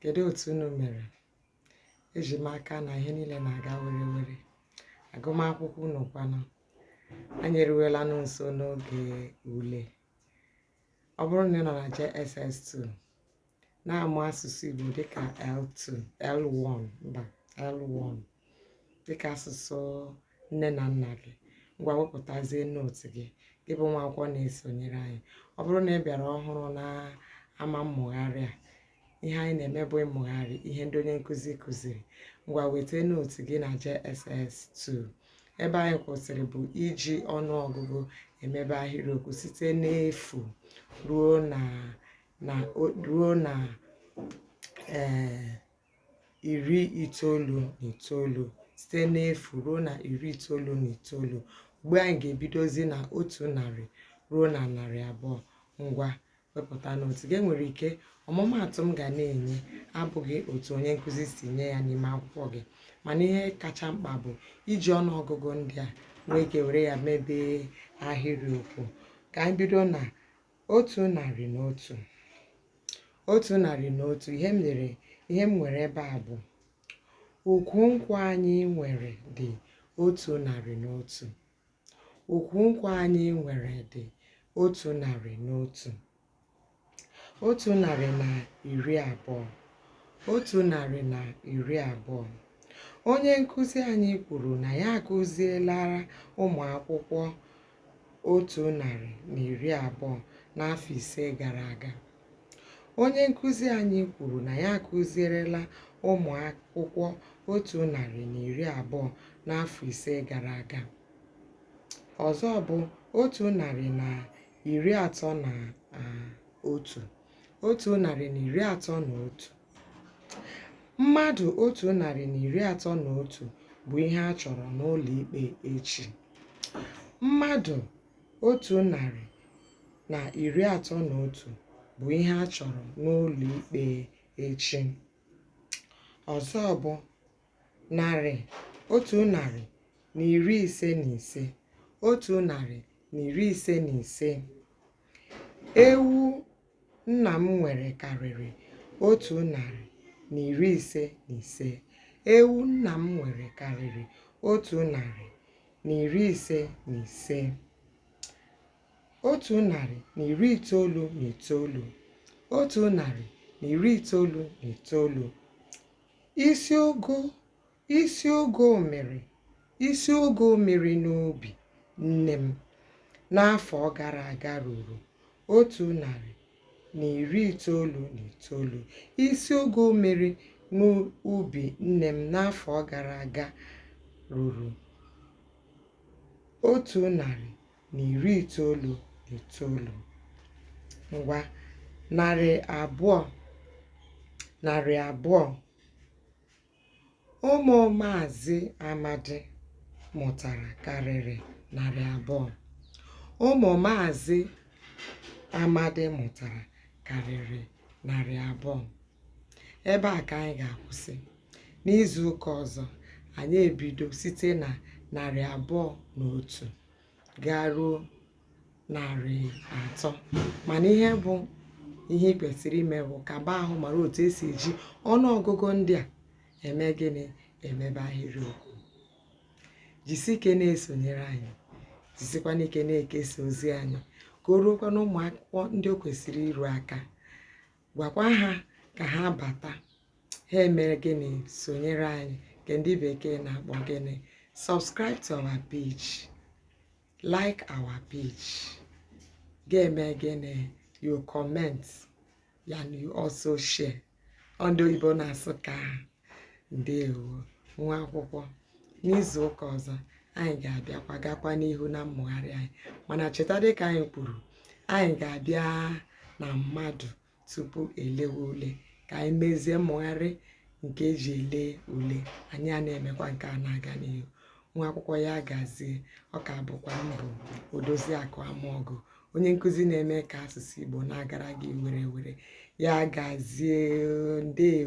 kedu otu unu mere eji m aka na ihe niile na-aga were were agụmakwụkwọ unu kwanụ anyị eruwela nụ nso n'oge ule ọ bụrụ na ị nọ na JSS2 na-amụ asụsụ Igbo dịka L2 L1 mba L1 dịka asụsụ nne na nna gị ngwa wepụtazie note gị gị bụ nwa akwụkwọ na-esonyere anyị ọ bụrụ na ị bịara ọhụrụ na ama mmụgharị a ihe anyị na-eme bụ ịmụgharị ihe ndị onye nkụzi kụziri ngwa weta note gị na JSS 2 ebe anyị kwụsịrị bụ iji ọnụọgụgụ emebe ahịrịokwu site n'efu ruo na na ruo na ee iri itoolu na itoolu site n'efu ruo na iri itoolu na itoolu ugbu a anyị ga-ebidozi na otu narị ruo na narị abụọ ngwa wepụta note gị e nwere ike ọmụmaatụ m ga na-enye abụghị otu onye nkụzi si nye ya n'ime akwụkwọ gị mana ihe kacha mkpa bụ iji ọnụ ọgụgụ ndị a nwee ike were ya mebee ahịrịokwu ka anyị bido na otu narị na otu otu narị na otu ihe m lere ihe m nwere ebe a bụ ukwu nkwụ anyị nwere dị otu narị na otu ukwu nkwụ anyị nwere dị otu narị na otu otu narị na iri abụọ otu narị na iri abụọ onye nkụzi anyị kwuru na ya akụzielara ụmụ akwụkwọ otu narị na iri abụọ n'afọ ise gara aga. Onye nkụzi anyị kwuru na ya akụzierela ụmụ akwụkwọ otu narị na iri abụọ n'afọ ise gara aga. Ọzọ bụ otu narị na iri atọ na ah, otu, otu narị na iri atọ na otu. Mmadụ otu narị na iri atọ na otu bụ ihe a chọrọ n'ụlọ ikpe echi. Mmadụ otu narị na iri atọ na otu bụ ihe a chọrọ n'ụlọ ikpe echi. Ọzọ bụ narị otu narị na iri ise na ise otu narị na iri ise na ise ewu Nna m nwere karịrị otu narị na iri ise na ise. Ewu nna m nwere karịrị otu narị na iri ise na ise. Otu narị na iri itoolu na itoolu. Otu narị na iri itoolu na itoolu. Isi ogo Isi ogo mmiri Isi ogo mmiri n'ubi nne m n'afọ gara aga ruru otu narị na iri itoolu na itoolu. Isi ogo mmiri n'ubi nne m n'afọ gara aga ruru otu narị na iri itoolu na itoolu. Ngwa narị abụọ narị abụọ Ụmụ Maazị Amadi mụtara karịrị narị abụọ. Ụmụ Maazị Amadi mụtara karịrị narị abụọ. Ebe a ka anyị ga-akwụsị. N'izu ụka ọzọ, anyị ebido site na narị abụọ na otu. gaa ruo narị atọ mana ihe bụ ihe ị kwesịrị ime bụ kaba ahụ mara otu esi eji ọnụ ọgụgụ ndị a eme gịnị emebe ahịrịokwu jisi ike na-esonyere anyị jisikwana ike na-ekesa ozi anyị ka o ruokwa na ụmụ akwụkwọ ndị o kwesịrị iru aka gwakwa ha ka ha bata ha emee gịnị sonyere anyị nke ndị bekee na-akpọ gịnị subscribe to our page like our page ga-eme gịnị you comment and you also share ndị oyibo na-asị ka ndewo nwa akwụkwọ n'izu ụka ọzọ anyị ga-abịakwa gakwa n'ihu na mmụgharị anyị mana cheta dịka anyị kwuru anyị ga-abịa na mmadụ tupu elewe ule ka anyị mezie mmụgharị nke eji ele ule anyị ana-emekwa nke a na-aga n'ihu nwa akwụkwọ ya gazie ọ ka bụkwa m bụ odoziakụ amaọgụ onye nkụzi na-eme ka asụsụ Igbo na-agara gị werewere ya gazie ndewo